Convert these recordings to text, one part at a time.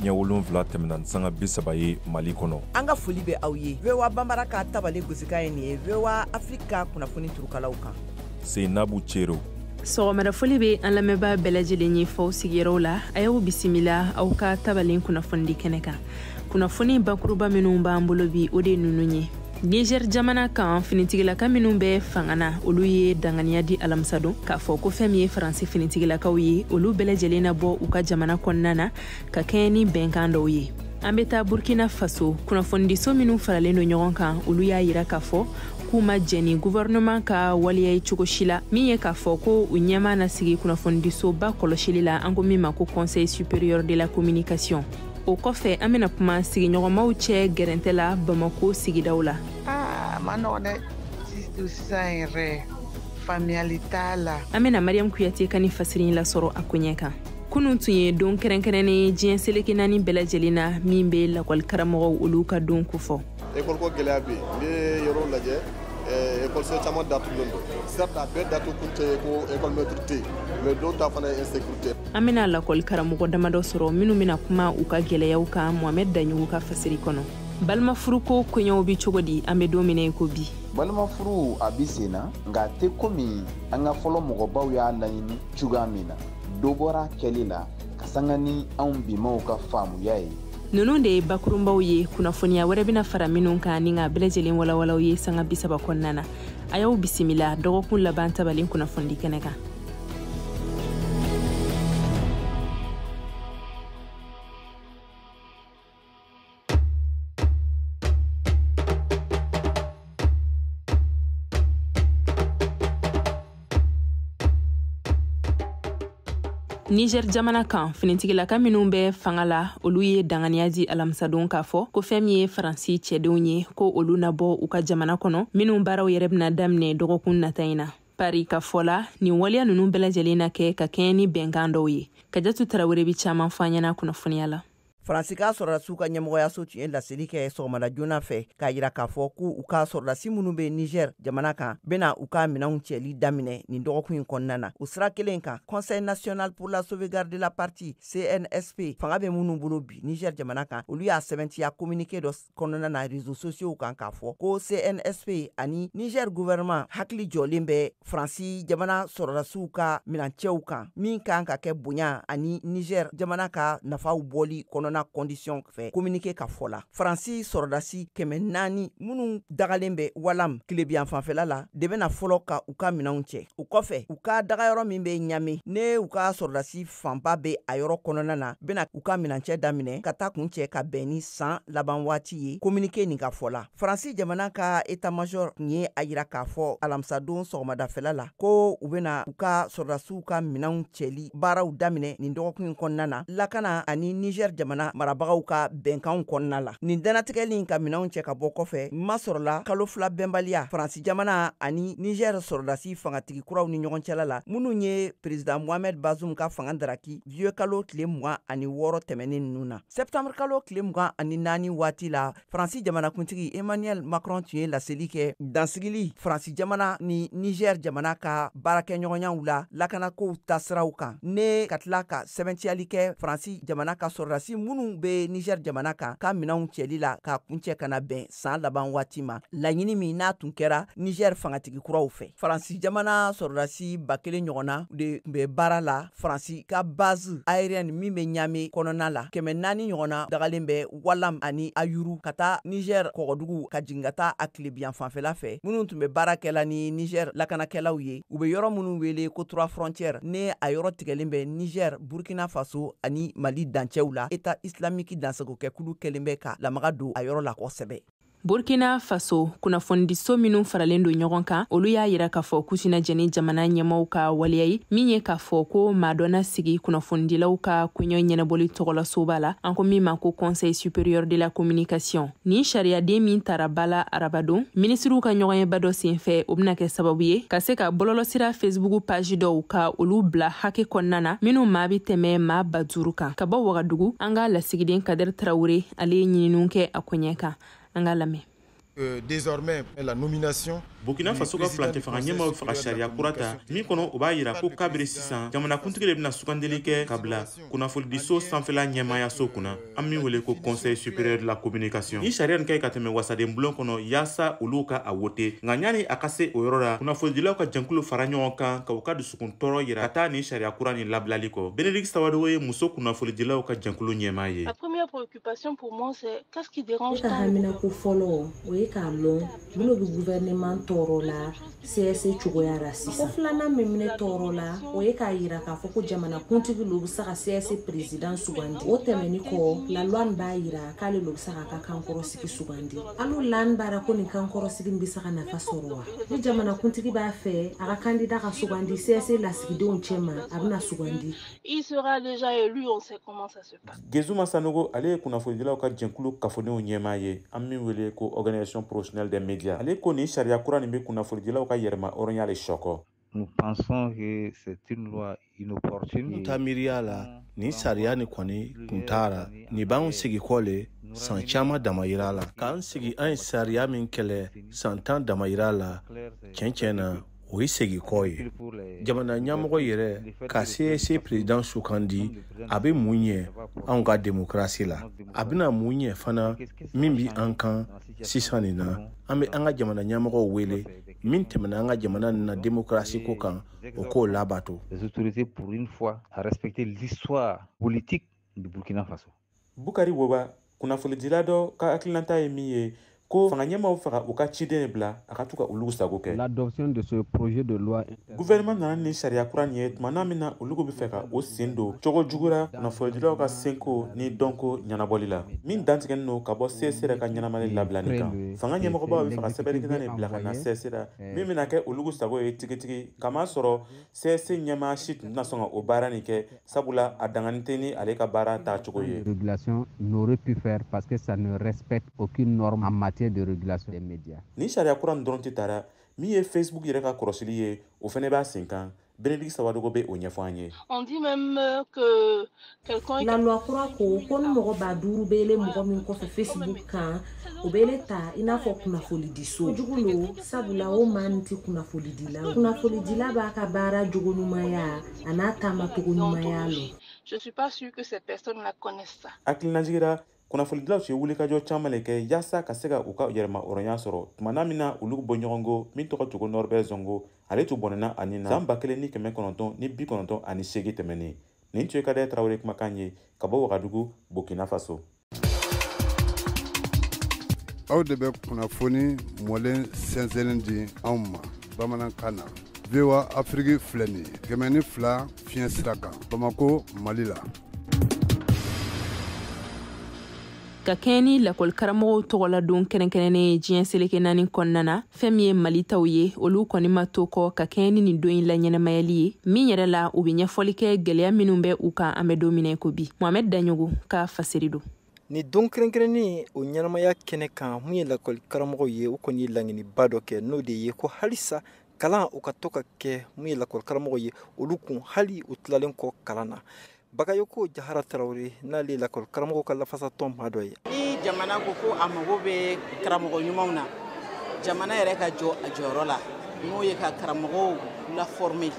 ɲɛ wolonfila tɛmɛna ni sanga bi saba ye mali kɔnɔ an ka foli bɛ aw ye voa banbara ka tabale gosikan ye nin ye voa afiriki ka kunnafoni turukalaw kan seinabu cero sɔgɔmada foli bɛ an lamɛnbaa bɛɛ lajɛlen ye f'aw sigiyɔrɔw la a y'aw bisimila aw ka tabalen kunnafonidi kɛnɛ kan kunnafoni bakuruba minnu b'an bolo bi o de ninnu ye niger jamana kan finitigilaka minnu bɛ fanga na olu ye danganiya di alamisadon k'a fɔ ko fɛn min ye faransi finitigilakaw ye olu bɛɛ lajɛlen na bɔ u ka jamana kɔnɔna na ka kɛɲɛ ni bɛnkan dɔw ye an bɛ taa burkina faso kunnafonidiso minnu faralen don ɲɔgɔn kan olu y'a yira k'a fɔ k'u ma jɛn ni guvɛrɛnɛman ka waleya ye cogo si la min ye k'a fɔ ko u ɲɛmaa na sigi kunnafonidisoba kɔlɔsili la an ko min ma ko conseil supérieur de la communication o kɔfɛ an bɛna kuma sigiɲɔgɔnmaw cɛ gɛrɛntɛ la bamako sigidaw la a man nɔgɔ dɛ sisan yɛrɛ faamuyali t'a la an bɛna mariyamu kuyate ka ni fasiri lasɔrɔ a koɲɛ kan kunun tun ye don kɛrɛnkɛrɛnnen ye diɲɛ seleke naani bɛɛ lajɛlen na min bɛ lakɔli karamɔgɔw olu ka don kofɔ ekɔliko gɛlɛya bɛ yen n'i ye yɔrɔw lajɛ eh, ekɔliso caman datugulen don certes a bɛɛ datugu kun tɛ ye ko ekɔlimɛtiri tɛ yen mais dɔw ta fana ye insécurité an bɛna lakɔli karamɔgɔ damadɔ sɔrɔ minnu bɛna kuma u ka gɛlɛyaw kan mohamɛd daɲugu ka fasiri kɔnɔ balimafuruko koɲɛw bɛ cogo di an bɛ don min na i ko bi balimafuru a bi sen na nka a tɛ komi an ka fɔlɔ mɔgɔbaw y'a laɲini cogoya min na dɔ bɔra kɛli la ka sanga ni anw bimaw ka faamuya ye ninnu de ye bakurunbaw ye kunnafoniya wɛrɛ bɛna fara minnu kan ni k'a bɛɛ lajɛlen walawala aw ye sanga bisaba kɔnɔna na a y'aw bisimila dɔgɔkun laban tabalen kunnafonidi kɛnɛ kan niger jamana kan finitigilaka minw bɛ fanga la olu ye danganiya di alamisadon k'a fɔ ko fɛn min ye faransi cɛdenw ye ko olu na bɔ u ka jamana kɔnɔ minw baaraw yɛrɛ bɛna daminɛ dɔgɔkun nata in na pari ka fɔ la nin waleya ninnu bɛɛ lajɛlen na kɛ ka kɛɲɛ ni bɛnkan dɔw ye kajatu tarawele bɛ caaman fɔ an ɲɛna kunnafoniya la faransi ka sɔrɔdasiw ka ɲɛmɔgɔyaso tun ye laseli kɛ sɔgɔmada joona fɛ k'a yira k'a fɔ ko u ka sɔrɔdasi minnu bɛ niger jamana kan bɛna u ka minɛnw cɛli daminɛ nin dɔgɔkun in kɔnɔna na o sira kelen kan conseil national pour la sauvegarde de la partie cnsp fanga bɛ minnu bolo bi niger jamana kan olu y'a sɛbɛntiya communiqué dɔ kɔnɔna na réseaux sociaux kan k'a fɔ ko CNSP ani Niger gouvernement hakili jɔlen bɛ faransi jamana sɔrɔdasiw ka minancɛw kan min kan ka kɛ bonya ani Niger jamana ka nafaw bɔli kɔnɔna condition fɛ communiqué ka fɔ la faransi sɔrɔdasi kɛmɛ naani minnu dagalen bɛ walam tilebinyanfan fɛla la de bɛna fɔlɔ ka u ka minɛnw cɛ o kɔfɛ u ka dagayɔrɔ min bɛ Ɲame ni u ka sɔrɔdasi fanba bɛ a yɔrɔ kɔnɔna na bɛna u ka minancɛ daminɛ ka taa kuncɛ ka bɛn ni san laban waati ye kominike nin ka fɔ la faransi jamana ka etamajɔr tun ye a yira k'a fɔ alamisadon sɔgɔmadafɛla la ko u bɛna u ka sɔrɔdasiw ka minɛnw cɛli baaraw daminɛ nin dɔgɔkun in kɔnɔna na lakana ani nizɛr jamana marabagaw ka bɛnkanw kɔnɔna la nin danatigɛli in ka minɛnw cɛ ka bɔ kɔfɛ masɔrɔla kalo fila bɛnbaliya faransi jamana ani nizɛr sɔrɔdasi fangatigi kuraw ni ɲɔgɔn cɛla la minnu ye perezidan mohamed bazum ka fanga daraki zuye kalo tile mugan ani wɔɔrɔ tɛmɛnen ninnu na sɛptanbr kalo tile mugan ani naani waati la faransi jamanakuntigi emmanuel macron tun ye laseli kɛ dansigili faransi jamana ni niger jamana ka baarakɛɲɔgɔnyaw la lakanakow tasiraw kan ne ka tila ka sɛbɛntiyali kɛ faransi jamana ka sɔrɔdasi minnu bɛ niger jamana kan ka minɛnw cɛli la ka kuncɛ ka na bɛn san laban waati ma laɲini min n'a tun kɛra nizɛri fangatigi kuraw fɛ faransi jamana sɔrɔdasi ba kelen ɲɔgɔnna de tun bɛ baara la faransi ka base aérienne min bɛ ɲame kɔnɔna la kɛmɛ naani ɲɔgɔnna dagalen bɛ walam ani ayuru ka taa nizɛri kɔgɔdugu ka jigin ka taa a tilebinyanfan fɛla fɛ minnu tun bɛ baara kɛla ni nizɛri lakanakɛlaw ye u bɛ yɔrɔ minnu wele ko trois frontières ni a yɔrɔ tigɛlen bɛ nizɛri burkina faso ani mali dancɛw la eta islamiki dansagokɛkulu kɛlen bɛ ka lamaga don a yɔrɔ la kosɛbɛ burkina faso kunnafonidiso minw faralen don ɲɔgɔn kan olu y'a yira k'a fɔ k'u tɛna jɛn ni jamana ɲɛmaaw ka waleya ye min ye k'a fɔ ko maa dɔ na sigi kunnafonidilaw ka koɲaw ɲɛnabɔli tɔgɔlasoba la an ko min ma ko conseil supérieur de la communication nin sariyaden min tara ba la arabadon minisiriw ka ɲɔgɔnyeba dɔ senfɛ o bɛna kɛ sababu ye ka se ka bɔlɔlɔsira fesibuku paji dɔw ka olu bila hakɛ kɔnɔna na minw maa bɛ tɛmɛ maa ba duuru kan ka bɔ wagadugu an ka lasigiden kadɛri tarawure ale ye ɲininiw kɛ a koɲɛ kan an ka lamɛn Euh, désormais la nomination burkina faso ka furancɛ fanga ɲɛmaaw faga sariya kura ta min kɔnɔ o b'a yira ko kabiri sisan jamanakuntigi de bɛna sugandeli kɛ ka bila kunnafonidiso sanfɛla ɲɛmaayaso kunna an min wele ko conseil supérieur de la communication ni sariya nin ka ɲi ka tɛmɛ wasaden bulon kɔnɔ yaasa olu ka a wote nka ɲani a ka se o yɔrɔ la kunnafonidilaw ka jɛnkulu fara ɲɔgɔn kan ka u ka dusukun tɔɔrɔ yira ka taa nin sariya kura nin labilali kɔ benedicte sawadogo ye muso kunnafonidilaw ka jɛnkulu ɲɛmaa ye ne ka haminako fɔlɔ o ye k'a lɔn mun lo bɛ gouvernement tɔɔrɔ la CSC cogoya la sisan ko filanan min bɛ ne tɔɔrɔ la o ye k'a yira k'a fɔ ko jamanakuntigi lo bɛ se ka CSC président sugandi o tɛmɛni kɔ la loi nin b'a yira k'ale lo bɛ se k'a ka kankɔrɔsigi sugandi a lo la n b'a ra ko nin kankɔrɔsigi bɛ se ka nafa sɔrɔ wa ni jamanakuntigi b'a fɛ a ka candidat ka sugandi CSC lasigidenw cɛma a bɛna sugandi il sera déjà élu on sait comment ça se gezuma sanogo ale ye kunnafonidilaw ka jɛkulu kafonenw ɲɛmaa ye an min wele ko organisation professionnelle des médias ale ko nin sariya kura nin bɛ kunnafonidilaw ka yɛrɛmahɔrɔnya le sɔkɔ Nous pensons que c'est une loi inopportune. N ta miiriya la mm. nin sariya ni kɔni kun t'a la nin b'anw segin kɔ le san caman damayira la k'an segin an ye sariya min kɛlɛ san tan damayira la tiɲɛ tiɲɛ na o ye segin kɔ ye jamana ɲɛmɔgɔ yɛrɛ ka CSC président sugandi a bɛ mun ɲɛ anw ka demokarasi la a bɛna mun ɲɛ fana min bi an kan sisan nin na an bɛ an ka jamana ɲɛmɔgɔw wele min tɛmɛna an ka jamana nin na demokarasi ko kan o k'o labato. Les autorités pour une fois à respecter l'histoire politique du Burkina Faso. bukari woba kunnafonidila dɔ ka hakilinata ye min ye ko fanga ɲɛmaaw bɛ fɛ ka u ka ciden bila a ka to ka olu sago kɛ l'adoption de ce projet de loi gouvernement nana ni sariya kura nin ye tuma na min na olugu bɛ fɛ ka u sen don cogo jugura kunnafonidilaw ka seko ni dɔnko ɲɛnabɔli la min dantigɛnin don ka bɔ csc yɛrɛ ka ɲɛnamali labilani kan fanga ɲɛmɔgɔbaw bɛ fɛ ka sɛbɛnnikɛla nin bila ka na csc ra min bɛna kɛ olugu sago ye tigitigi kamasɔrɔ csc ɲɛmaa si tun tɛna sɔn ka o baara nin kɛ sabula a danganin tɛ ni ale ka baara taacogo ye régulation n'aurait pu faire parce que ça ne respecte aucune norme en matière de régulation des médias nin sariya kura nin dɔrɔn tɛ tara min ye facebook yɛrɛ ka kɔlɔsili ye o fana b'a sen kan Bénédicte Sawadogo bɛ o ɲɛfɔ an ye. On dit même que La loi kura ko ko ni mɔgɔ ba duuru bɛ ile mɔgɔ min kɔfɛ Facebook kan o bɛ ile ta i n'a fɔ kunnafonidiso jugu lo sabula o maa nin tɛ kunnafonidila kunnafonidila b'a ka baara jogo ɲumanya an'a taamacogo ɲumanya lɔn. Hakilinajigi ra kunnafonidilaw ye wulikajɔ caman le kɛ yaasa ka se ka u ka yɛrɛmahɔrɔnya sɔrɔ tuma na min na olu bɔɲɔgɔnko min tɔgɔ tun ko Norbert Zongo ale tun bɔnɛna a ni na san ba kelen ni kɛmɛ kɔnɔntɔn ni bi kɔnɔntɔn ani seegin tɛmɛnen nin tun ye kadɛr tarawele kumakan ye ka bɔ wagadugu burkina faso aw de bɛ kunnafoni mɔlen sɛnsɛnnen di anw ma bamanankan na voa afiriki filɛ nin ye kɛmɛ ni fila fiɲɛ sira kan bamako mali la ka kɛɲɛ ni lakɔlikaramɔgɔw tɔgɔladon kɛrɛnkɛrɛnnen ye diɲɛ seleke naani kɔnɔna na fɛn min ye mali taw ye olu kɔni ma to kɔ ka kɛɲɛ ni nin don in laɲɛnamayali ye min yɛrɛ la u be ɲɛfɔli kɛ gɛlɛya minw bɛ u kan an bɛ don min na i ko bi mohamɛd daɲogo ka fasiri don nin don kɛrɛnkɛrɛnnen o ɲɛnamaya kɛnɛ kan mun ye lakɔli karamɔgɔw ye u kɔni ye laɲiniba dɔ kɛ n'o de ye ko halisa kalanw ka to ka kɛ mun ye lakɔli karamɔgɔw ye olu kun hali u tilalen kɔ kalan na Bagayoko Jahara Tarawele n'ale ye lakɔli karamɔgɔw ka lafasa tɔn maa dɔ ye. Ni jamana ko ko a mago bɛ karamɔgɔ ɲumanw na, jamana yɛrɛ ka jɔ a jɔyɔrɔ la, n'o ye ka karamɔgɔw la former.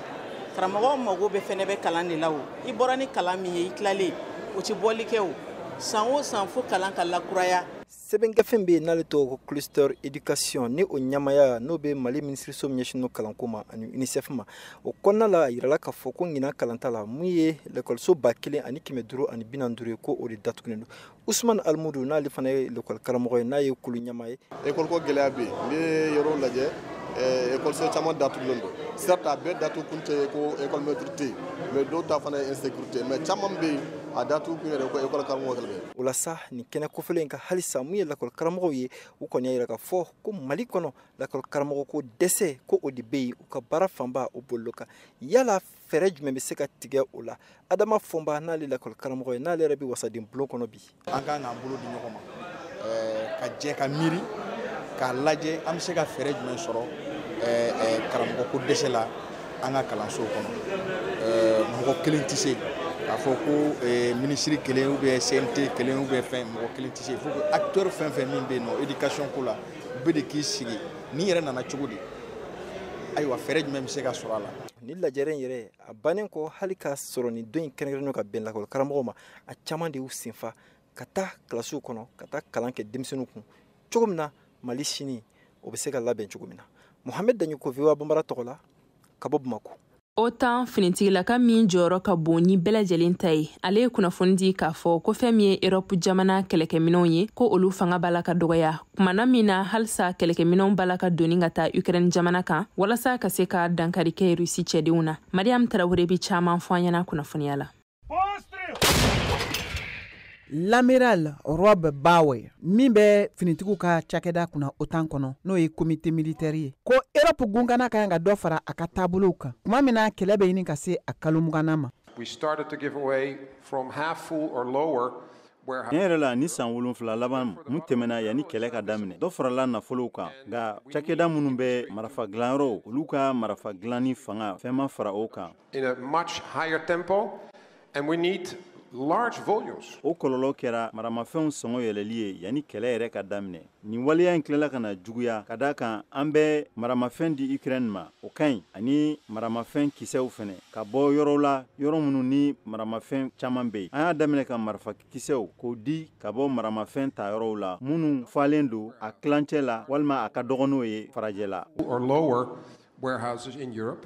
Karamɔgɔw mago bɛ fɛnɛ bɛ kalan de la o. I bɔra ni kalan min ye, i tilalen o tɛ bɔli kɛ o. San o san fo kalan ka lakuraya. sɛbɛngafe bɛ yen n'ale tɔgɔ ko cluster education ni o ɲɛmaaya n'o bɛ mali minisiriso min ɲɛsinnen kalanko ma ani unicef ma o kɔnɔna la a yirala k'a fɔ ko ɲinan kalanta la mun ye lekɔliso ba kelen ani kɛmɛ duuru ani bi naani duuru ye ko o de datugulen don usman alimudu n'ale fana ye lekɔli karamɔgɔ ye n'a ye kulu ɲɛmaa ye ekɔliko gɛlɛya bɛ yen n'i ye yɔrɔw lajɛ eh, ekɔliso caman datugulen don certes a bɛɛ datugu kun tɛ ko ekɔli mɛtiri tɛ yen mais dɔw ta fana ye insécurité mais caman bɛ yen a datugu kun yɛrɛ ko ekɔli karamɔgɔ kɛlɛ bɛ o la sa nin kɛnɛ kofɔlen in kan halisa mun ye lakɔli karamɔgɔw ye u kɔni y'a yira k'a fɔ ko mali kɔnɔ lakɔli karamɔgɔ ko dɛsɛ ko o de bɛ yen u ka baara fanba o bolil'o kan yala fɛɛrɛ jumɛn bɛ se ka tigɛ o la adama fɔnba n'ale lakɔli karamɔgɔ ye n'ale yɛrɛ bɛ wasaden bulon kɔnɔ bi an ka kan k'an bolo di ɲɔgɔn ma ka jɛ ka miiri k'a lajɛ an bɛ se ka fɛɛrɛ jumɛn sɔrɔ karamɔgɔ ko dɛsɛ la an ka kalanso kɔnɔ mɔgɔ kelen tɛ se k'a fɔ ko minisiri kelen ou bien CNT kelen ou bien fɛn mɔgɔ kelen tɛ se il faut que acteur fɛn fɛn min bɛ yen nɔ éducation ko la u bɛɛ de k'i sigi nin yɛrɛ nana cogo di ayiwa fɛɛrɛ jumɛn bɛ se ka sɔrɔ a la. nin lajɛrɛ in yɛrɛ a bannen kɔ hali k'a sɔrɔ nin don in kɛrɛnkɛrɛnnen ka bɛn lakɔli karamɔgɔw ma a caman de y'u senfa ka taa kilasiw kɔnɔ ka taa kalan kɛ denmisɛnninw kun cogo min na mali sini o bɛ se ka labɛn cogo min na mohamɛd daɲɔkɔ VOA banbara tɔgɔ la ka bɔ bamako OTAN finitigilaka min jɔyɔrɔ ka bon ni bɛɛ lajɛlen ta ye ale ye kunnafoni di k'a fɔ ko fɛn min ye erɔpu jamana kɛlɛkɛminɛnw ye ko olu fanga b'a la ka dɔgɔya tuma na min na halisa kɛlɛkɛminɛnw b'a la ka doni ka taa ukraine jamana kan walasa ka se ka dankari kɛ rusi cɛdenw na mariam tarawele bɛ caman fɔ an ɲɛna kunnafoniya la L'amiral Rob Bauer min bɛ finitigiw ka cakɛda kunna OTAN kɔnɔ n'o ye comité militaire ye ko Europe gunkanna ka kan ka dɔ fara a ka taabolow kan tuma min na kɛlɛ bɛ ɲini ka se a kalo mugannan ma. We started to give away from half full or lower Tiɲɛ yɛrɛ la nin san wolonfila laban mun tɛmɛna yanni kɛlɛ ka daminɛ dɔ farala nafolow kan nka cakɛda minnu bɛ marafa dilanyɔrɔw olu ka marafa dilanni fanga fɛn ma fara o kan in a much higher tempo, and we need large volumes. O kɔlɔlɔ kɛra maramafɛnw sɔngɔ yɛlɛli ye yanni kɛlɛ yɛrɛ ka daminɛ. Nin waleya in tilala ka na juguya ka d'a kan an bɛ maramafɛn di Ukraine ma o ka ɲi ani maramafɛn kisɛw fɛnɛ ka bɔ yɔrɔw la yɔrɔ minnu ni maramafɛn caman bɛ yen. An y'a daminɛ ka marifa kisɛw k'o di ka bɔ maramafɛn ta yɔrɔw la minnu falen don a tilancɛ la walima a ka dɔgɔn n'o ye farajɛla. Or lower warehouses in Europe.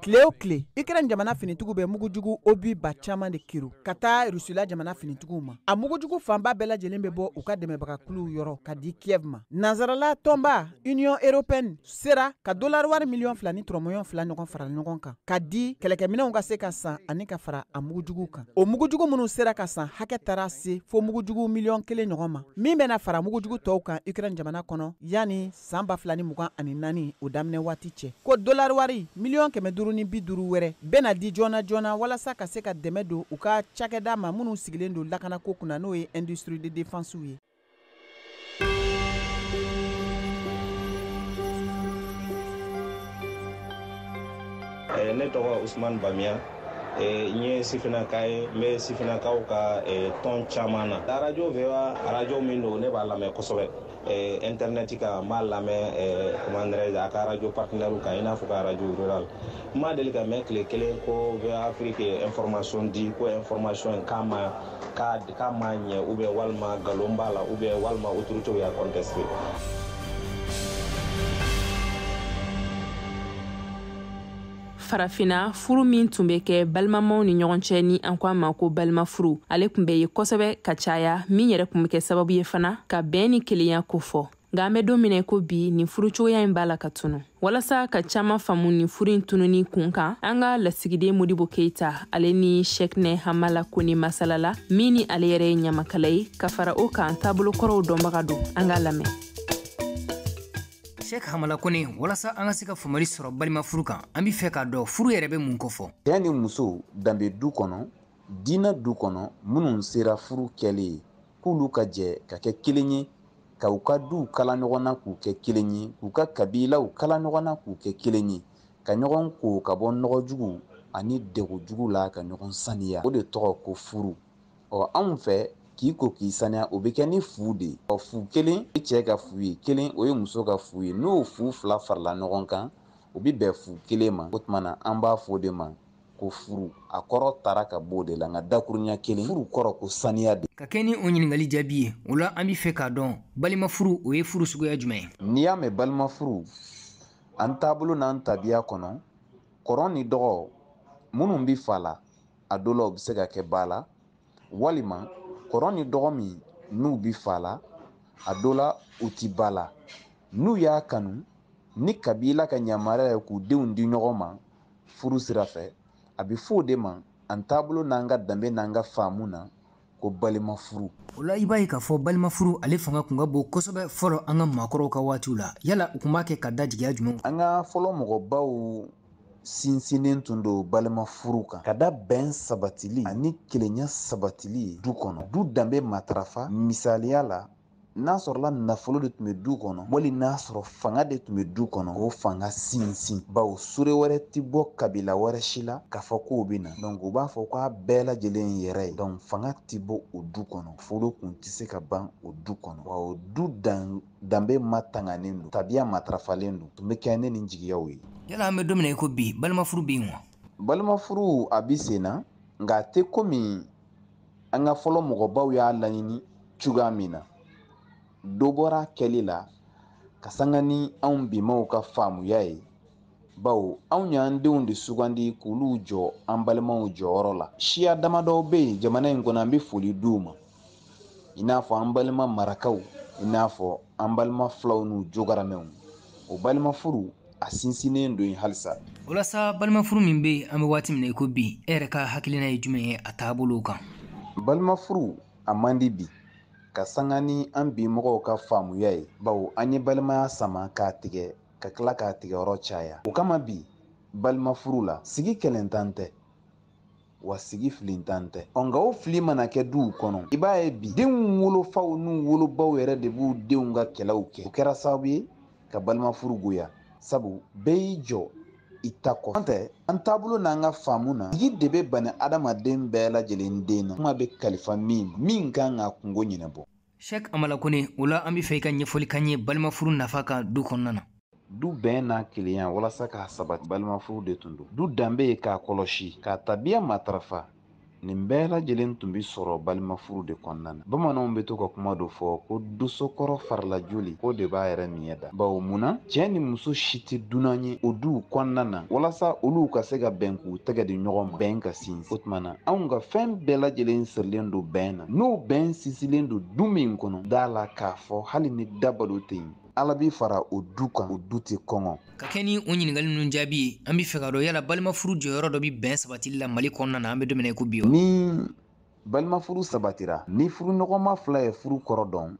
Tile o tile Ukraine jamana finitigiw bɛ mugujugu obus ba caman de kerun ka taa Rusila jamana finitigiw ma. A mugujugu fanba bɛɛ lajɛlen bɛ bɔ u ka dɛmɛbagakuluw yɔrɔ ka di Kiev ma. Nansarala tɔnba Union européenne sera ka dolari wari miliyɔn fila ni turɔmɔɲɔn fila ɲɔgɔn fara ɲɔgɔn kan ka di kɛlɛkɛminɛnw ka se ka san ani ka fara a mugujugu kan. O mugujugu minnu sera ka san hakɛ taara se fo mugujugu miliyɔn kelen ɲɔgɔn ma, min bɛna fara mugujugu tɔw kan Ukraine jamana kɔnɔ yanni san ba fila ni mugan ani naani o daminɛ waati cɛ ko dolari wari miliyɔn kɛmɛ duuru ni bi duuru wɛrɛ bɛna di joona joona walasa ka se ka dɛmɛ don u ka cakɛda ma minnu sigilen don lakanako kunna n'o ye industrie de défense ye eh, ne tɔgɔ usman bamiya eh, n ye sifinaka ye n bɛ sifinakaw ka eh, tɔn caman na arajo VOA arajo min don ne b'a lamɛn kosɛbɛ eh, internet kan n b'a lamɛn eh, comment dirais-je a ka radio partenaire kan i n'a fɔ ka radio rural n ma deli k'a mɛn tile kelen ko VOA afrique ye information di ko information in k'a ma k'a k'a ma ɲɛ ou bien walima nkalon b'a la ou bien walima autorité y'a contesté farafina furu min tun bɛ kɛ balimamaw ni ɲɔgɔn cɛ ni an ko a ma ko balima furu ale tun bɛ ye kosɛbɛ ka caya min yɛrɛ tun bɛ kɛ sababu ye fana ka bɛn ni kelenya kofɔ nka an bɛ don min na ko bi nin furu cogoya in b'a la ka tunu walasa ka caman faamu nin furu in tununi kun kan an ka lasigiden modibo keita ale ni shɛkinɛ hamala kone masalala min ni ale yɛrɛ ye ɲamakala ye ka fara o kan taabolo kɔrɔw dɔnbaga don an k'a lamɛn Shɛki hamala kone walasa an ka se ka faamuyali sɔrɔ balima furu kan an b'a fɛ k'a dɔn furu yɛrɛ bɛ mun kofɔ cɛ ni muso danbe du kɔnɔ diinɛ du kɔnɔ minnu sera furu kɛli ye k'olu ka jɛ ka kɛ kelen ye ka u ka duw kala ɲɔgɔn na k'u kɛ kelen ye k'u ka kabilaw kala ɲɔgɔn na k'u kɛ kelen ye ka ɲɔgɔn ko ka bɔ nɔgɔ jugu ani degun jugu la ka ɲɔgɔn saniya o de tɔgɔ ko furu ɔ anw fɛ k'i ko k'i saniya o bɛ kɛ ni fu de ye ɔ fu kelen ye cɛ ka fu ye kelen o ye muso ka fu ye n'o fu fila farala ɲɔgɔn kan o bɛ bɛn fu kelen ma o tuma na an b'a fɔ o de ma ko furu a kɔrɔ tara ka b'o de la nka dakurunya kelen furu kɔrɔ ko saniya de ka kɛ ni o ɲininkali jaabi ye o la an b'a fɛ k'a dɔn balima furu o ye furu suguya jumɛn ye n'i y'a mɛn balima furu an taabolo n'an tabiya kɔnɔ kɔrɔ ni dɔgɔ minnu bɛ fa la a dɔ la u bɛ se ka kɛ ba la walima kɔrɔ ni dɔgɔ minnu bi fa la a dɔ la u ti ba la n'u y'a kanu ni kabila ka yamaruya ye k'u denw di ɲɔgɔn ma furu sira fɛ a bɛ fɔ o de ma an taabolo n'an ka danbe n'an ka faamu na ko balima furu o la i b'a ye k'a fɔ balima furu ale fanga kun ka bon kosɛbɛ fɔlɔ an ka maakɔrɔw ka waatiw la yala u kun b'a kɛ ka da jigiya jumɛn an ka fɔlɔ mɔgɔbaw sinsinnen tun don balima furu kan ka da bɛn sabatili ani kelenya sabatili du kɔnɔ du danbe matarafa misaliya la n'a sɔrɔla nafolo de tun bɛ du kɔnɔ wali n'a sɔrɔ fanga de tun bɛ du kɔnɔ o fanga sinsin bawo sure wɛrɛ tɛ bɔ kabila wɛrɛ si la k'a fɔ k'o bɛ na donc u b'a fɔ k'a bɛɛ lajɛlen yɛrɛ ye donc fanga tɛ bɔ o du kɔnɔ nafolo kun tɛ se ka ban o du kɔnɔ wa o du danbe ma tanganen don tabiya matarafalen don tun bɛ kɛ ni nin jigiyaw ye yala an bɛ don min na i ko bi balimafuru bɛ yen wa balimafuru a bɛ sen na nka a tɛ komi an ka fɔlɔ mɔgɔbaw y'a laɲini cogoya min na dɔ bɔra kɛli la ka sanga ni anw bimaw ka faamuya ye bawo anw y'an denw de sugandi k'olu jɔ an balimaw jɔyɔrɔ la siya damadɔw bɛ yen jamana in kɔnɔ an bɛ foli di u ma i n'a fɔ an balima marakaw i n'a fɔ an balima filaw n'u jogaramɛw o balima furu a sinsinnen don yen halisa o la sa balimafuru min bɛ yen an bɛ waati min na i ko bi e yɛrɛ ka hakilina ye jumɛn ye a taabolo kan balimafuru a man di bi ka sanga ni an bi mɔgɔw ka faamuya ye bawo an ye balimaya sama k'a tigɛ ka tila k'a tigɛ yɔrɔ caya o kama bi balimafuru la sigi kɛlɛntan tɛ wa sigi filintan tɛ ɔ nka o fili mana kɛ duw kɔnɔ i b'a ye bi denw wolofaw n'u wolobaw yɛrɛ de b'u denw ka kɛlɛw kɛ o kɛra sababu ye ka balima furu goya sabu bɛɛ y'i jɔ i ta kɔ an tɛ an taabolo n'an ka faamu na sigi de bɛ bani adamaden bɛɛ lajɛlen den na kuma bɛ kalifa min min kan k'a kunko ɲɛnabɔ Sheikh Amala Kone, o la an bɛ fɛ i ka ɲɛfɔli k'an ye balimafuru nafa kan du kɔnɔna na. Du bɛn n'a kelenya walasa k'a sabati balimafuru de tun don. Du danbe ye k'a kɔlɔsi, k'a tabiya matarafa, nin bɛɛ lajɛlen tun bɛ sɔrɔ balimafuru de kɔnɔna na. Bamananw bɛ to ka kuma dɔ fɔ ko dosokɔrɔ fari la joli k'o de b'a yɛrɛ miɲɛ da. Bawo mun na? Cɛ ni muso si tɛ dunan ye o duw kɔnɔna na walasa olu ka se ka bɛn k'u tɛgɛ di ɲɔgɔn ma, bɛn ka sinsin. O tuma na, anw ka fɛn bɛɛ lajɛlen sirilen don bɛn na n'o bɛn sinsilen don du min kɔnɔ da la k'a fɔ hali ni dabalo tɛ yen ala b'i fara o du kan o du tɛ kɔngɔ ka kɛɲɛ ni o ɲininkali ninnu jaabi ye an bɛ fɛ k'a dɔn yala balimafuru jɔyɔrɔ dɔ bɛ bɛn sabatili la mali kɔnɔna na an bɛ don min na i ko bi ni balimafuru sabatira ni furuɲɔgɔnma fila ye furu kɔrɔ dɔn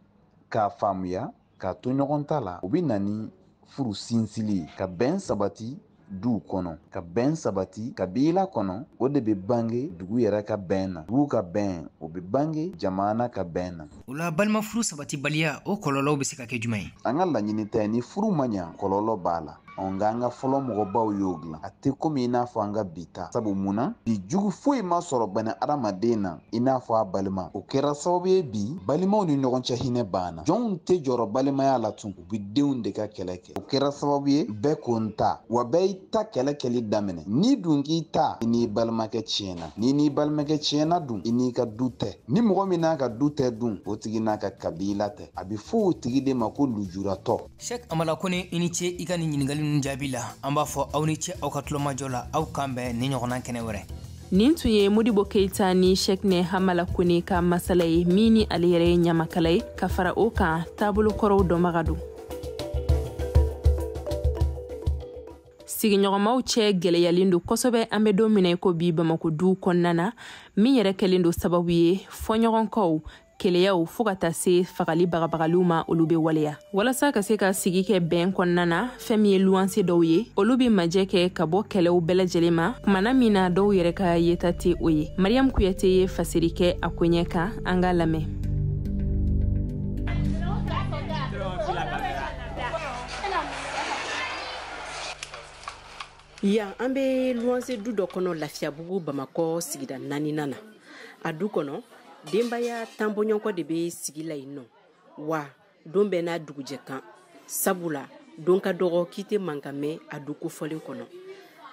k'a faamuya Ka to ɲɔgɔn ta la, o bɛ na ni furu sinsili ye, ka bɛn sabati du kɔnɔ, ka bɛn sabati kabila kɔnɔ, o de bɛ bange dugu yɛrɛ ka bɛn na, dugu ka bɛn, o bɛ bange jamana ka bɛn na. O la balimafuru sabatibaliya, o kɔlɔlɔw bɛ se ka kɛ jumɛn ye? An ka laɲini tɛ ni furu ma ɲa, kɔlɔlɔ b'a la. ɔ nka an ka fɔlɔ mɔgɔbaw y'o dilan a tɛ komi i n'a fɔ an ka bi ta sabu mun na bi jugu foyi ma sɔrɔ bani adamaden na i n'a fɔ a balima o kɛra sababu ye bi balimaw ni ɲɔgɔn cɛ hinɛ banna jɔnw tɛ jɔrɔ balimaya la tun u bɛ denw de ka kɛlɛ kɛ o kɛra sababu ye bɛɛ ko n ta wa bɛɛ y'i ta kɛlɛ kɛli daminɛ n'i dun k'i ta i n'i balimakɛ tiɲɛna n'i n'i balimakɛ tiɲɛna dun i n'i ka du tɛ ni mɔgɔ min n'a ka du tɛ dun o tigi n'a ka kabila tɛ a bɛ fɔ o tigi de ma ko lujuratɔ Sɛk Amala kone i ni ce i ka nin ɲininkali ninnu jaabi la an b'a fɔ aw ni ce aw ka tulomajɔ la aw k'an bɛn ni ɲɔgɔnna kɛnɛ wɛrɛ nin tun ye modibo keita ni shekne hamala kone ka masala ye min ni ale yɛrɛ ye ɲamakala ye ka fara o kan taabolo kɔrɔw dɔnbaga don sigiɲɔgɔnmaw cɛ gwɛlɛyalen don kosɛbɛ an be don min na i ko bi bamako duw kɔnɔna na min yɛrɛ kɛlen don sababu ye fɔɲɔgɔnkɔw keleyaw fo ka taa se fagali bagabagaliw ma olu be waleya walasa ka se ka sigi kɛ bɛn kɔnɔna na fɛn min ye luwanse dɔw ye olu be majɛ kɛ ka bɔ kɛlɛw bɛɛ lajɛlen ma kumana min na dɔw yɛrɛ ka yeta tɛ o ye mariyamu kuyate ye fasari kɛ a koɲɛ kan an k'a lamɛn yan an be luwanse du dɔ kɔnɔ lafiyabugu bamakɔ sigida naaninan na a du kɔnɔ denbaya tan bɔɲɔgɔnko de bɛ sigi la yen nɔ wa don bɛɛ n'a dugujɛ kan sabula don ka dɔgɔ k'i tɛ mankan mɛn a du kofɔlen kɔnɔ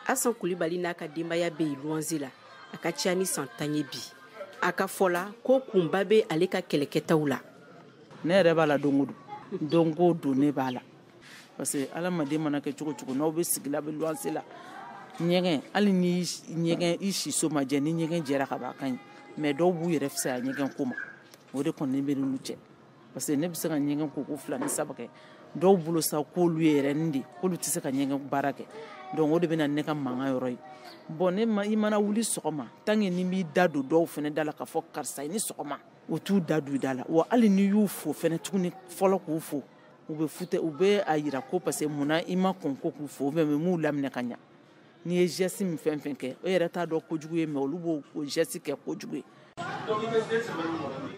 asan kulibali n'a ka denbaya bɛ yen luwanse la a ka ca ni san tan ye bi a ka fɔ la ko kunba bɛ ale ka kɛlɛkɛtaw la ne yɛrɛ b'a la don o don don o don ne b'a la parce que adamaden mana kɛ cogo cogo n'aw bɛ sigi la bɛ luwanse la ɲɛgɛn hali ni ɲɛgɛn i siso ma jɛ ni ɲɛgɛn jɛra ka ban a ka ɲi mais dɔw b'u yɛrɛ fisaya ɲɛgɛn ko ma o de kɔni bɛ n'olu cɛ parce que ne bɛ se ka ɲɛgɛn ko ko fila ni saba kɛ dɔw bolo sa k'olu ye yɛrɛ nin de k'olu tɛ se ka ɲɛgɛn baara kɛ donc o de bɛ na ne ka mankan yɔrɔ ye bon ne ma i mana wuli sɔgɔma tant que n'i b'i da don dɔw fɛnɛ da la k'a fɔ karisa i ni sɔgɔma o t'u da don i da la wa hali n'i y'u fo fɛnɛ tuguni fɔlɔ k'u fo u bɛ fute u bɛ a yira ko parce que munna i ma kɔn ko k'u fo mais i m'u laminɛ ka ɲa n'i ye geste min fɛn fɛn kɛ o yɛrɛ t'a dɔn kojugu ye mais olu b'o o geste kɛ kojugu ye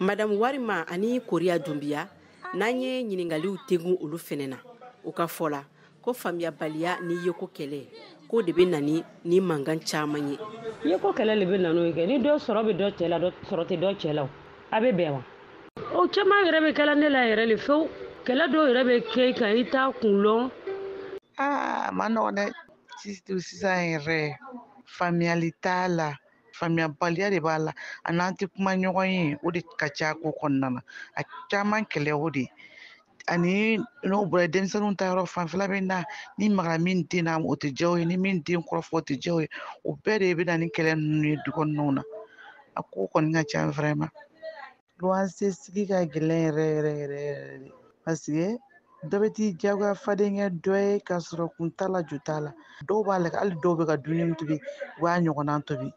madamu warima ani koriya dunbiya n'an ye ɲiningaliw tegun olu fɛnɛ na u ka fɔ la ko faamuyabaliya ni yeko kɛlɛ ko de bɛ na ni ni mankan caman ye yeko kɛlɛ le bɛ na n'o ye kɛ ni dɔ sɔrɔ bɛ dɔ cɛ la dɔ sɔrɔ tɛ dɔ cɛ la a bɛ bɛn wa o caman yɛrɛ bɛ kɛla ne la yɛrɛ le fewu kɛlɛ dɔw yɛrɛ bɛ kɛ i kan i t'a kun lɔn aa a man nɔgɔ dɛ sisan yɛrɛ faamuyali t'a la faamuyabaliya de b'a la a n'an tɛ kuma ɲɔgɔn ye o de ka ca ko kɔnɔna na a caman kɛlɛ o de ani n'o bɔra denmisɛnninw ta yɔrɔ fanfɛla bɛ na n'i magara min den na o tɛ diya o ye ni min den kɔrɔfɔ o tɛ diya o ye o bɛɛ de bɛ na ni kɛlɛ ninnu ye du kɔnɔnaw na a ko kɔni ka ca vraiment luwanse sigi ka gɛlɛn yɛrɛ yɛrɛ yɛrɛ yɛrɛ de parce que dɔ bɛ t'i jagoya fadenkɛ dɔ ye k'a sɔrɔ kun t'a la ju t'a la dɔw b'a la hali dɔw bɛ ka dumuni min tobi u b'a ɲɔgɔnna tobi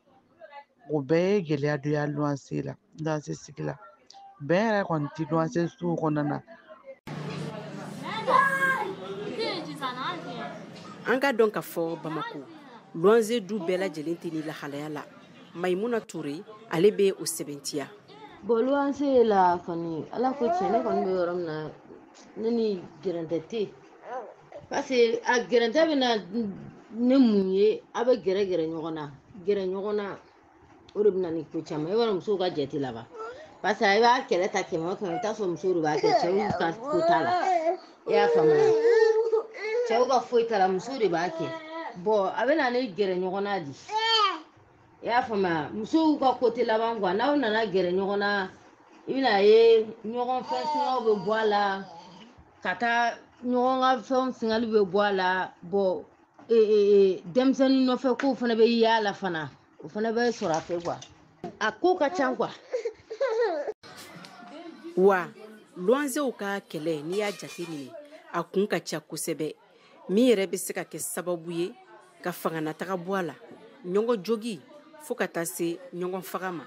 o bɛɛ ye gɛlɛya dɔ ye luwanse la luwanse sigi la bɛn yɛrɛ kɔni tɛ luwanse sow kɔnɔna na an k'a dɔn ka fɔ bamako luwanze du bɛɛ lajɛlen tɛ nin lahalaya la mayimuna ture ale bɛ o sɛbɛntiya bon luwanse la kɔni ala ko tiɲɛ ne kɔni bɛ yɔrɔ min na ne ni gɛrɛntɛ tɛ yen parce que a gɛrɛntɛ bɛ na ni mun ye a bɛ gɛrɛ gɛrɛ ɲɔgɔn na gɛrɛ ɲɔgɔn na o de bɛ na ni ko caman i b'a dɔn musow ka jate laban parce que i b'a kɛlɛ ta kɛmɛ o kɛmɛ i bɛ t'a sɔrɔ musow de b'a kɛ cɛw ka ko t'a la i y'a faamuya cɛw ka foyi t'a la muso de b'a kɛ bon a bɛ na ni gɛrɛ ɲɔgɔn na di i y'a faamuya musow ka ko tɛ laban quoi n'aw nana gɛrɛ ɲɔgɔn na i bɛn'a ye ɲɔgɔn fɛn singaw bɛ bɔ a la ka taa ɲɔgɔn ka fɛnw singali bɛ bɔ a la bon denmisɛnnin nɔfɛ kow fana bɛ y'a la fana o fana bɛ sɔrɔ a fɛ quoi a ko ka ca quoi wa luwansew ka kɛlɛ n'i y'a jate minɛ a kun ka ca kosɛbɛ min yɛrɛ bɛ se ka kɛ sababu ye ka fanganataga bɔ a la ɲɔgɔn jogin fo ka taa se ɲɔgɔn faga ma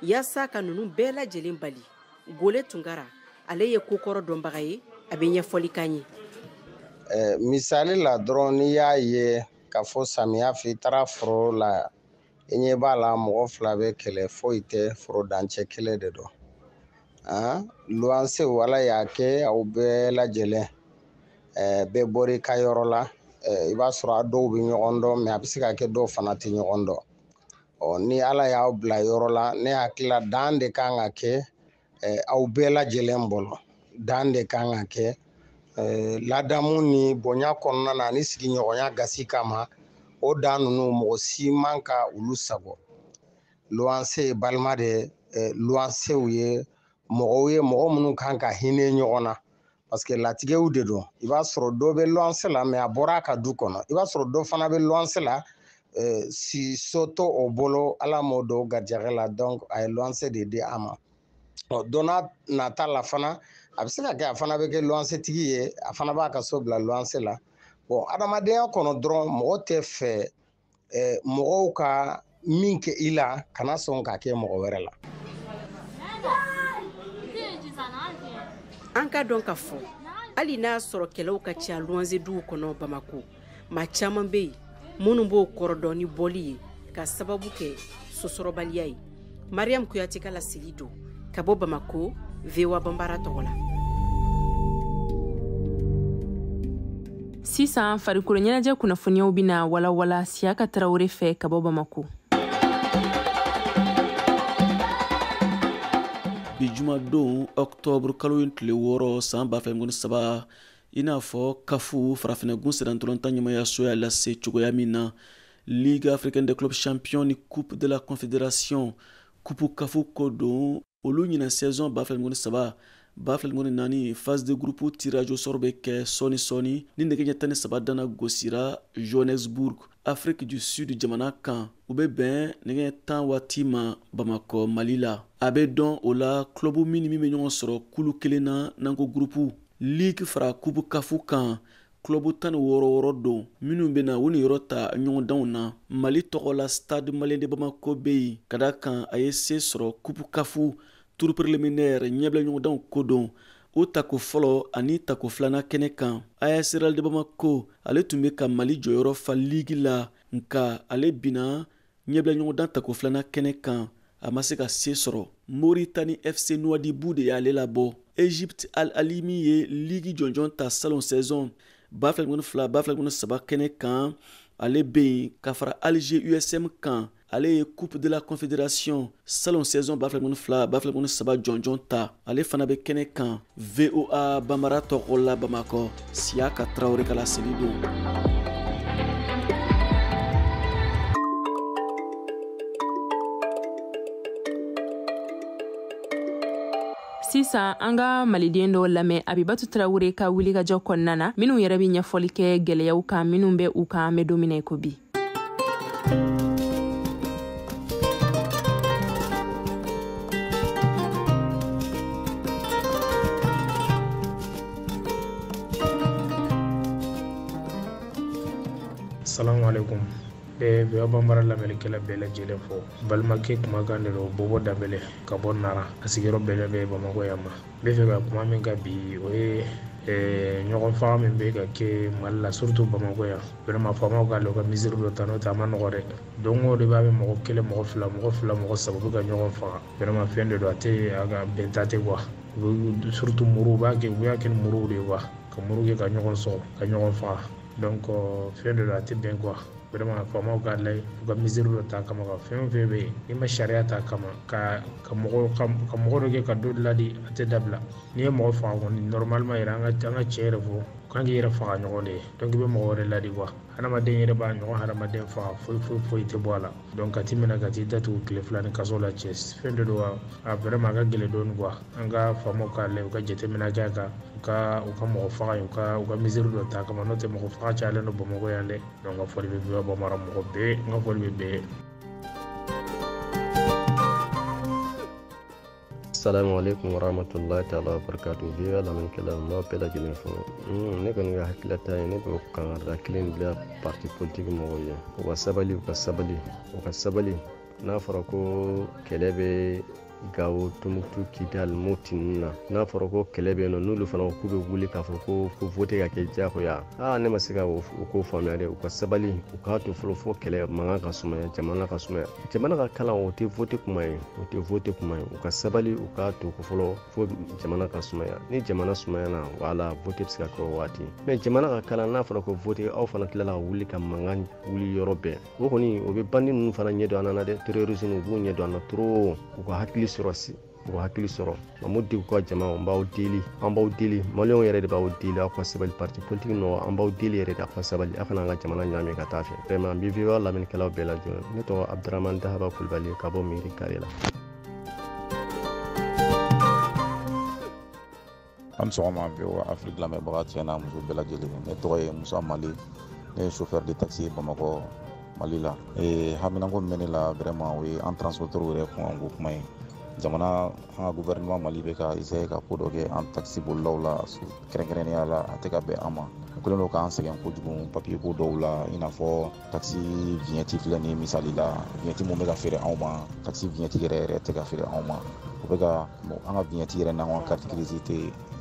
yaasa ka ninnu bɛɛ lajɛlen bali gole tunkara ale ye kokɔrɔ dɔnbaga ye a bɛ ɲɛfɔli k'an ye misali la dɔrɔn n'i y'a ye ka fɔ samiya fɛ i taara foro la i ɲɛ b'a la mɔgɔ fila bɛ kɛlɛ foyi tɛ foro dancɛ kelen de don luwansew ala y'a kɛ aw bɛɛ lajɛlen bɛɛ bɔr'i ka yɔrɔ la i b'a sɔrɔ a dɔw bɛ ɲɔgɔn dɔn mais a bɛ se ka kɛ dɔw fana tɛ ɲɔgɔn dɔn ni ala y'aw bila yɔrɔ la ne hakili la dan de kan ka kɛ aw bɛɛ lajɛlen bolo dan de kan ka kɛ ladamu ni bonya kɔnɔna na ani sigiɲɔgɔnya gasi kama o dan ninnu mɔgɔ si man ka olu sagon luwanse ye balima de ye luwansew ye mɔgɔw ye mɔgɔ minnu kan ka hinɛ ɲɔgɔn na parce que latigɛw de don i b'a sɔrɔ dɔ bɛ luwanse la mais a bɔra a ka du kɔnɔ i b'a sɔrɔ dɔ fana bɛ luwanse la eh, siso t'o bolo ala m'o d'o garijɛgɛ la donc a ye luwanse de di a ma ɔ don n'a nata la fana a bɛ se ka kɛ a fana bɛ kɛ luwanse tigi ye a fana b'a ka so bila luwanse la bon adamadenya kɔnɔ dɔrɔn mɔgɔ tɛ fɛ eh, mɔgɔw ka min kɛ i la kana sɔn k'a kɛ mɔgɔ wɛrɛ la an k'a dɔn k'a fɔ hali n'a sɔrɔ kɛlɛw ka ca luwanze duw kɔnɔ bamako maa caman bɛ yen minnu b'o kɔrɔdɔn ni bɔli ye k'a sababu kɛ so sɔrɔbaliya ye mariam kuyate ka laseli don ka bɔ bamako voa bambara tɔgɔ la sisan farikolo ɲɛnajɛ kunnafoniyaw bɛna walawala siyaka tarawele fɛ ka bɔ bamako bi jumadon ɔktɔburu kalo in tile wɔɔrɔ san ba fila mugan ni saba i n'a fɔ kafu farafinagun sennantolatan ɲɛmaayaso y'a lase cogoya min na ligue africaine des clubs champions ni coupe de la confédération kupu kafu ko don olu ɲinan saison ba fila mugan ni saba ba fila mugan ni naani phase de groupe tirage au sort bɛ kɛ sɔɔni sɔɔni ni nɛgɛ ɲɛ tan ni saba dana gosira johannesburg afrique du sud jamana kan o bɛ bɛn nɛgɛ ɲɛ tan waati ma bamakɔ mali la a bɛ dɔn o la club min ni min bɛ ɲɔgɔn sɔrɔ kulu kelen na n'an ko groupe ligue fara kupu kafu kan Kulobu tan ni wɔɔrɔ wɔɔrɔ don minnu bɛna u niyɔrɔ ta ɲɔgɔndanw na mali tɔgɔ la stade malien de bamako bɛ yen k'a da a kan a ye se sɔrɔ kupu kafu turu preliminaire ɲɛbila ɲɔgɔndanw ko don o tako fɔlɔ ani tako filanan kɛnɛ kan as real de bamako ale tun bɛ ka mali jɔyɔrɔ fa ligi la nka ale bina ɲɛbila ɲɔgɔndan tako filanan kɛnɛ kan a ma se ka se sɔrɔ moritani fc nuwadibu de y'ale labɔ egypte al ahly min ye ligi jɔnjɔn ta salon saison ba fila mugan ni fila ba fila mugan ni saba kɛnɛ kan ale bɛ yen ka fara alger usm kan ale ye coupe de la confédération salon saison ba fila mugan ni fila ba fila mugan ni saba jɔnjɔn ta ale fana bɛ kɛnɛ kan voa bambara tɔgɔ la bamakɔ siyaka tarawele ka laseli don sisan an ka maliden dɔw lamɛn abibatu tarawure ka wilikajɔ kɔnɔna na minw yɛrɛ be ɲɛfɔli kɛ gwɛlɛyaw kan minw bɛ u kan an be don min na i ko bi asalamu alaikum ne bɛ voa bambara lamɛnnikɛla bɛɛ lajɛlen fo balimakɛ kumakan de don bobo danbɛlɛ ka bɔ nara a sigiyɔrɔ bɛnnen bɛ bamakɔ yan ma n bɛ fɛ ka kuma min ka bi o ye ɲɔgɔn faga min bɛ ka kɛ mali la surtout bamakɔ yan vraiment faamaw k'a lajɛ u ka mesure dɔ ta n'o tɛ a ma nɔgɔ dɛ don o don b'a bɛ mɔgɔ kelen mɔgɔ fila mɔgɔ fila mɔgɔ saba bɛ ka ɲɔgɔn faga vraiment fɛn de don a tɛ a ka bɛnta tɛ quoi surtout muru u b'a kɛ u y'a kɛ ni muruw de ye quoi ka muru kɛ ka ɲɔgɔn sɔgɔ ka ɲɔgɔn faga donc fɛn de don a tɛ bɛn quoi vraiment faamaw k'a lajɛ u ka mesure dɔ ta kama ka fɛn o fɛn bɛ yen n'i ma sariya ta kama ka ka mɔgɔ ka mɔgɔ dɔ kɛ ka dɔ ladi a tɛ dabila n'i ye mɔgɔ faga kɔni normalement yɛrɛ an ka an ka tiɲɛ yɛrɛ fɔ kan k'i yɛrɛ faga ɲɔgɔn de ye donc i bɛ mɔgɔ wɛrɛ ladi quoi hadamaden yɛrɛ b'a ɲɔgɔn hadamaden faga foyi foyi foyi tɛ bɔ a la donc ka t'i minɛ ka t'i datugu tile fila ni kaso la cɛ fɛn de don quoi a vraiment a ka gɛlɛn dɔɔni quoi an ka faamaw k'a lajɛ u ka jateminɛ kɛ a kan u ka u ka mɔgɔ faga ye u ka u ka mesure dɔ ta kama n'o tɛ mɔgɔ faga cayalen don bamakɔ yan dɛ donc n ka foli bɛ voa bambara mɔgɔ bɛɛ n ka foli bɛ bɛɛ assalamu alaikum wa rahmatullahi ta'ala wa barakatuh voa lamɛnnikɛla n b'aw bɛɛ lajɛlen fo ne kɔni ka hakililata ye ne bɛ kangarida kelen bila parti politique mɔgɔw ye u ka sabali u ka sabali u ka sabali n'a fɔra ko kɛlɛ bɛ gawo tumutu kidal moti ninnu na n'a fɔra ko kɛlɛ bɛ yen nɔ n'olu fana k'u bɛ wuli k'a fɔ ko ko vote ka kɛ diyagoya aa ne ma se ka o ko faamuya dɛ u ka sabali u k'a to fɔlɔ fo kɛlɛ mankan ka sumaya jamana ka sumaya jamana ka kalan o tɛ vote kuma ye o tɛ vote kuma ye u ka sabali u k'a to ko fɔlɔ fo jamana ka sumaya ni jamana sumayana voilà vote bɛ se ka kɛ o waati mais jamana ka kalan n'a fɔra ko vote aw fana tilala ka wuli ka mankan wuli yɔrɔ bɛɛ o kɔni o bɛ bandi ninnu fana ɲɛ don an na dɛ terrorisme u b'u ɲɛ don an na trop u ka hakili sɔrɔ si u ka hakili sɔrɔ mamudu ka jama n b'aw deli an b'aw deli maliyɛnw yɛrɛ de b'aw deli aw ka sabali parti politique mɔgɔ an b'aw deli yɛrɛ de aw ka sabali aw kana an ka jamana ɲaami ka taa fɛ vraiment n bɛ voa lamɛnnikɛlaw bɛɛ lajɛ fo ne tɔgɔ abdurahman dahaba kulubali ka bɔ mairie carré la aw ni sɔgɔma voa afrique lamɛnbaga cɛ n'a muso bɛɛ lajɛlen ne tɔgɔ ye musa mali ne ye chauffeur de taxi ye bamakɔ mali la ee haminako min bɛ ne la vraiment o ye an transporteur yɛrɛ kunkanko kuma ye jamana an ka gouvernement mali bɛ ka essayer ka ko dɔ kɛ an taxi bolilaw la kɛrɛnkɛrɛnnenya la a tɛ ka bɛn an ma o kɛlen don k'an sɛgɛn kojugu papier ko dɔw la i n'a fɔ takisi viɲɛti filɛ nin misali la viɲɛti min bɛ ka feere anw ma takisi viɲɛti yɛrɛ yɛrɛ tɛ ka feere anw ma u bɛ ka an ka viɲɛti yɛrɛ n'an ka kariti girisi tɛ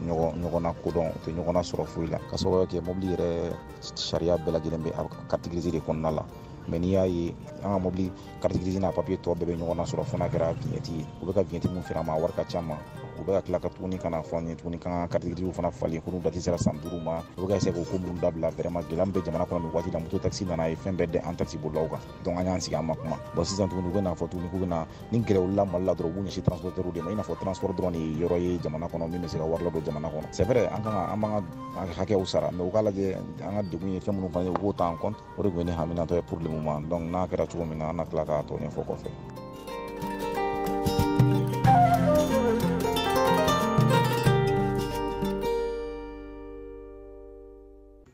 ɲɔgɔn na kodɔn u tɛ ɲɔgɔn na sɔrɔ foyi la ka sababu kɛ mobili yɛrɛ sariya bɛɛ lajɛlen bɛ kariti girisi de kɔnɔna la mais n'i y'a ye an ka mobili carte grise n'a papiye tɔ bɛɛ bɛ ɲɔgɔn na sɔrɔ fo n'a kɛra viɲɛti ye u bɛ ka viɲɛti min feere an ma a wari ka ca ma u bɛ ka tila ka tuguni ka n'a fɔ an ye tuguni k'an ka carte grise fana falen ko n'u dati sera san duuru ma u bɛ ka essayer k'o ko ninnu dabila vraiment gɛlɛya min bɛ jamana kɔnɔ nin waati la moto taxi nana ye fɛn bɛɛ dɛ an taxi bolilaw kan donc an y'an sigi an ma kuma bon sisan tuguni u bɛ n'a fɔ tuguni k'u bɛna ni gɛrɛ wulila mali la dɔrɔn u b'u ɲɛsin transportɛriw de ma i n'a fɔ transport dɔrɔn de ye yɔrɔ ye jamana kɔnɔ min bɛ se ka wari ladon jamana kɔnɔ c'est vrai an kan ka an b'an ka hakɛw sara mais u k'a lajɛ an ka degun ye fɛn minnu fana ye u k'o ta en compte o de tun ye ne haminatɔ ye pour le moment donc n'a kɛra cogo min na an na tila k'a tɔ ɲɛfɔ kɔfɛ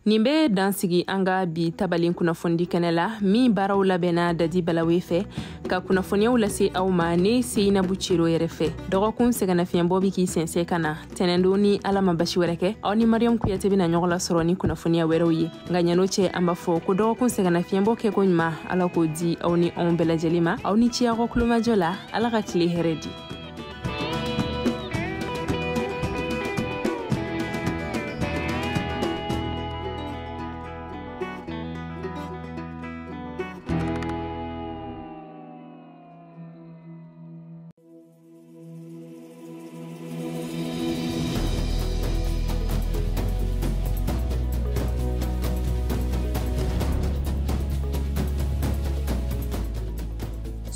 nin bɛ dan sigi an ka bi tabalen kunnafonidi kɛnɛ la min baaraw labɛnna dadi balawe fɛ ka kunnafoniyaw lase aw ma ne seyinabu cero yɛrɛ fɛ dɔgɔkun sɛgɛnnafiɲɛbɔ bɛ k'i sɛnsɛn ka na tɛnɛndon ni ala ma basi wɛrɛ kɛ aw ni mariyamu kuyate bɛna ɲɔgɔn lasɔrɔ ni kunnafoniya wɛrɛw ye nka ɲan'o cɛ an b'a fɔ ko dɔgɔkun sɛgɛnnafiɲɛbɔ kɛko ɲuman ala k'o di aw ni anw bɛɛ lajɛlen ma aw ni ce aw ka kulomajɔ la ala ka tile hɛrɛ di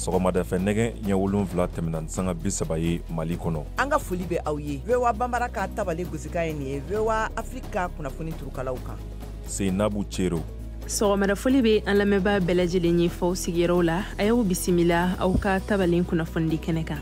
sɔgɔmadafɛ nɛgɛ ɲɛ wolonfila tɛmɛna ni sanga bi saba ye mali kɔnɔ an ka foli bɛ aw ye vowa banbara ka tabale gosikan ye nin ye vowa afiriki ka kunnafoni turukalaw kan seinabu cero sɔgɔmadafoli be an lamɛnbaa bɛɛ lajɛlen ye f'aw sigiyɔrɔw la a y'aw bisimila aw ka tabalen kunnafonidi kɛnɛ kan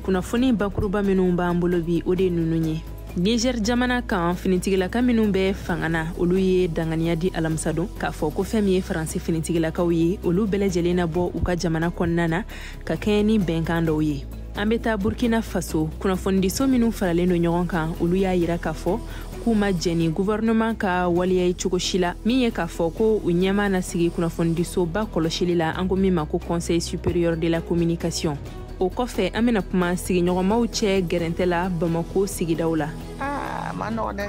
kunnafoni bakuruba minw b'an bolo bi o de nunu ye niger jamana kan finitigilaka minw bɛ fanga na olu ye danganiya di alamisadon k'a fɔ ko fɛn min ye faransi finitigilakaw ye olu bɛɛ lajɛlen na bɔ u ka jamana kɔnɔna na ka kɛɲɛ ni bɛnkan dɔw ye an bɛ taa burkina faso kunnafonidiso minnu faralen don ɲɔgɔn kan olu y'a yira k'a fɔ k'u ma jɛn ni guvɛrɛnɛman ka waleya ye cogo si la min ye k'a fɔ ko u ɲɛmaa na sigi kunnafonidisoba kɔlɔsili la an ko min ma ko conseil supérieur de la communication o kɔfɛ an bɛna kuma sigiɲɔgɔnmaw cɛ gɛrɛntɛ la bamako sigidaw la a man nɔgɔ dɛ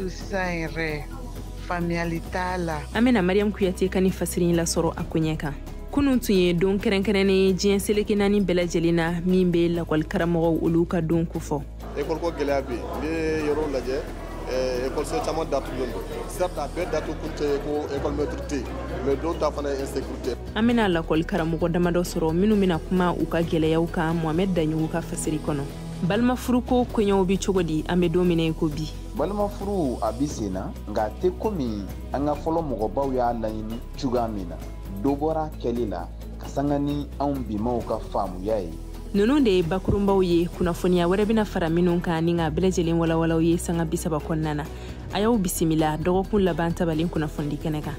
sisan yɛrɛ faamuyali t'a la an bɛna mariyamu kuyate ka ni fasiri lasɔrɔ a koɲɛ kan kunun tun ye don kɛrɛnkɛrɛnnen ye diɲɛ seleke naani bɛɛ lajɛlen na min bɛ lakɔli karamɔgɔw olu ka don kofɔ ekɔliko gɛlɛya bɛ yen n'i ye yɔrɔw lajɛ eh, ekɔliso caman datugulen don certes a bɛɛ datugu kun tɛ ko ekɔlimɛtiri tɛ yen mais dɔw ta fana ye insécurité an bɛna lakɔli karamɔgɔ damadɔ sɔrɔ minnu bɛna kuma u ka gɛlɛyaw kan mohamɛd daɲugu ka fasiri kɔnɔ balimafuruko koɲɛw be cogo di an be don min na i ko bi balimafuru a bi sen na nka a tɛ komi an ka fɔlɔ mɔgɔbaw y'a laɲini cogoya min na dɔ bɔra kɛli la ka sanga ni anw bimaw ka faamuya ye ninnu de ye bakurunbaw ye kunnafoniya wɛrɛ bɛna fara minnu kan ni ka bɛɛ lajɛlen walawal'aw ye sanga bisaba kɔnɔna na a y'aw bisimila dɔgɔkun laban tabalen kunnafonidi kɛnɛ kan